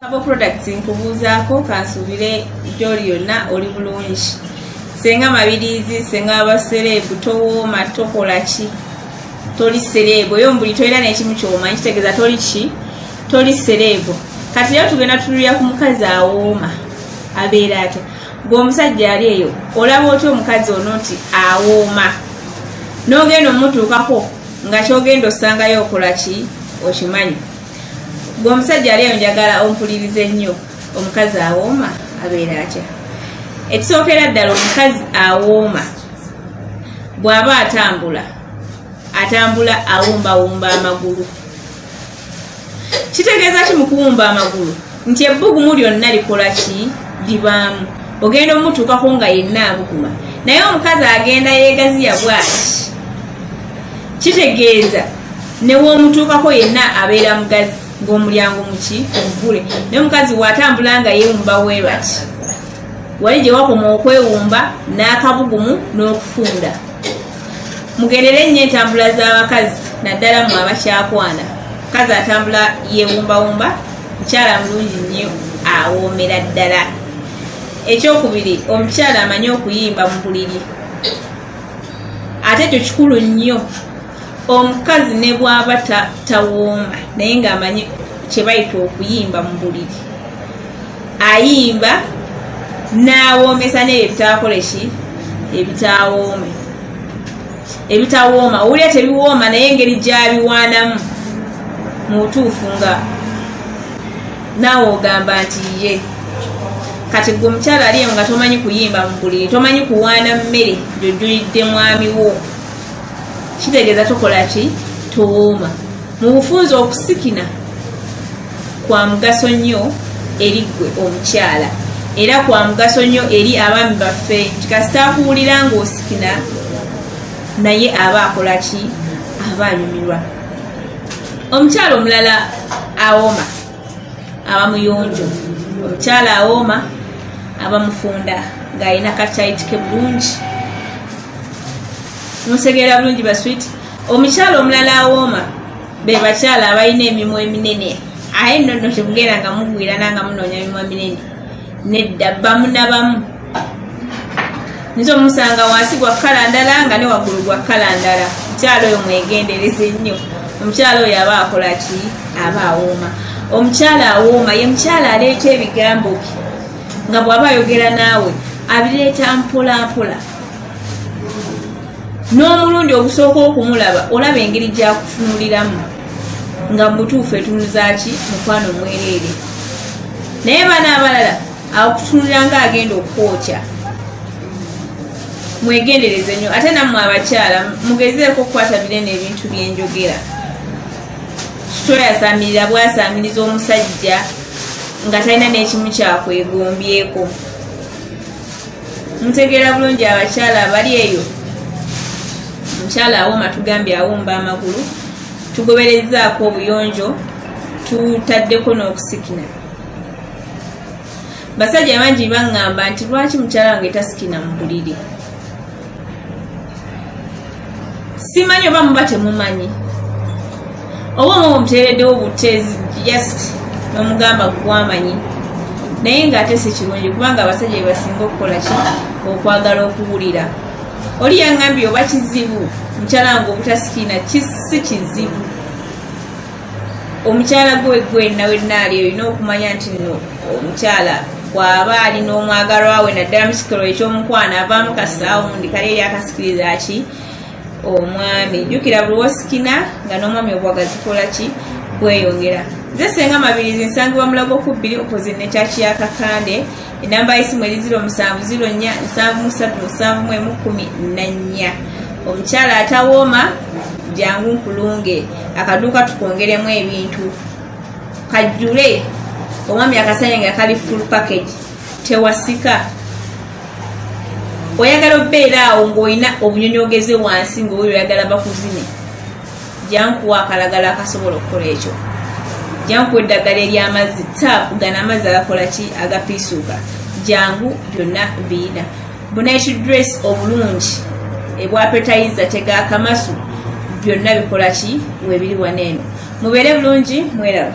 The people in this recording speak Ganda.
Abo products nkubuuzaako kansuubire gyoli yonna oli bulungi senga mabiriizi senga abasereebu towooma tokola ki toli sereebu oyo mbuli tolina nekimu kyomanyi kitegeeza toli ki toli sereebu kati era tugenda tululira ku mukazi awooma abeera atya gwe omusajja ali eyo olaba otya omukazi ono nti awooma n'ogenda omutuukako nga kyogenda osangayo okola ki okimanyi gwe omusajja ali eyo njagala ompuliriza ennyo omukazi awooma abeera atya ekisookera ddala omukazi awooma bw'aba atambula atambula awumbawumba amagulu kitegeeza ki mu kuwumba amagulu nti ebbugumu lyonna likola ki libaamu ogenda omutuukako nga yenna abuguma naye omukazi agenda yeegaziya bwaki kitegeeza newoomutuukako yenna abeera mugazi ng'omulyango muki omugule naye omukazi waatambula nga yeewumba weerwaki wali gye wakoma okwewumba n'akabugumu n'okufunda mugendere ennyo entambula z'abakazi naddala mu abakyakwana mukazi atambula yeewumbawumba mukyala mulungi nnyo awoomera ddala ekyokubiri omukyala amanyi okuyimba mu buliri ate ekyo kikulu nnyo omukazi ne bwaba tawooma naye ng'amanyi kyebayita okuyimba mu buliri ayimba n'awoomesa n'ebyo ebitaakole ki ebitaawoome ebitawooma owulira tebiwooma naye engeri gyabiwaanamu mu butuufu nga naawe ogamba nti ye kati gwe omukyala aliyo nga tomanyi kuyimba mu buliri tomanyi kuwaana mmere gyojulidde mwami wo kitegeeza tokola ki towooma mu bufunza okusikina kwa mugaso nnyo eri ggwe omukyala era kwa mugaso nnyo eri abaami baffe nti kasita akuwulira ng'osikina naye aba akola ki aba anyumirwa omukyala omulala awooma aba muyonjo omukyala awooma aba mufunda ng'alina kakyayitike bulungi musegeera bulungi baswiti omukyala omulala awooma be bakyala abalina emimwa eminene aye nonno tekugenda nga mugwirana nga munoonya mimwa minene nedda bamu na bamu nze omusanga wansi gwa kkala ndala nga ne waggulu gwa kkala ndala omukyalo oyo mwegendereze nnyo omukyalo oyo aba akola ki aba awooma omukyala awooma ye mukyala aleeta ebigambo bye nga bw'aba ayogera naawe abireeta mpolampola n'omulundi ogusooka okumulaba olaba engeri gyakutunuliramu nga mubutuufu etunuzaki mukwano mwereere naye bana abalala akutunulira nga agenda okukwokya mwegendereze nyo ate nammwe abakyala mugezeeko okukwata bire n'ebintu byenjogera toyasamirira bwasamiriza omusajja nga talina n'ekimu kyakwegombyeko mutegeera bulungi abakyala abali eyo omukyala awoma tugambye awomba amagulu tugoberezaako obuyonjo tutaddeko n'okusikina basajja bangi baŋŋamba nti lwaki mukyala wange tasikina mu buliri simanyi oba muba temumanyi oba omu omuteereddewo butezi just nomugamba gwamanyi naye ngaate sikirungi kubanga abasajja bebasinga okukola ki okwagala okuwulira oli yangambye oba kizibu mukyala nga obutasikiina kisi kizibu omukyala gwe gwe nawe naali olina okumanya nti no omukyala bw'aba ali n'omwagalwa we naddala mu kikolo eky'omukwano avaamu kasaawundi kale eri akasikiriza ki omwami jjukira buli wosikina nga n'omwami obwaga zikola ki bweyongera nze senga mabirizi nsangibwa mulago ku bbiri opposite ne kyaki ya kakande enamba yesimu eri ziro musanvu ziro nya nsanvu musatu musanvu mwemu kumi nanya omukyala atawooma jangu nkulunge akaduuka tukwongeremu ebintu kajjule omwami akasanya nga kali full package tewasika oyagala obeera awo ngaolina obunyonyi ogeze wansi ngaoyo oyagala bakuzine jankuwa akalagala akasobola okukola ekyo jankuwa eddagala eryamazzi taapu gana amazzi agakola ki agapiisuuka jangu byonna biina bunaitu dress obulungi ebwapetayiza tegaakamasu byonna bikola ki webiri waneeno mubeere bulungi mweraba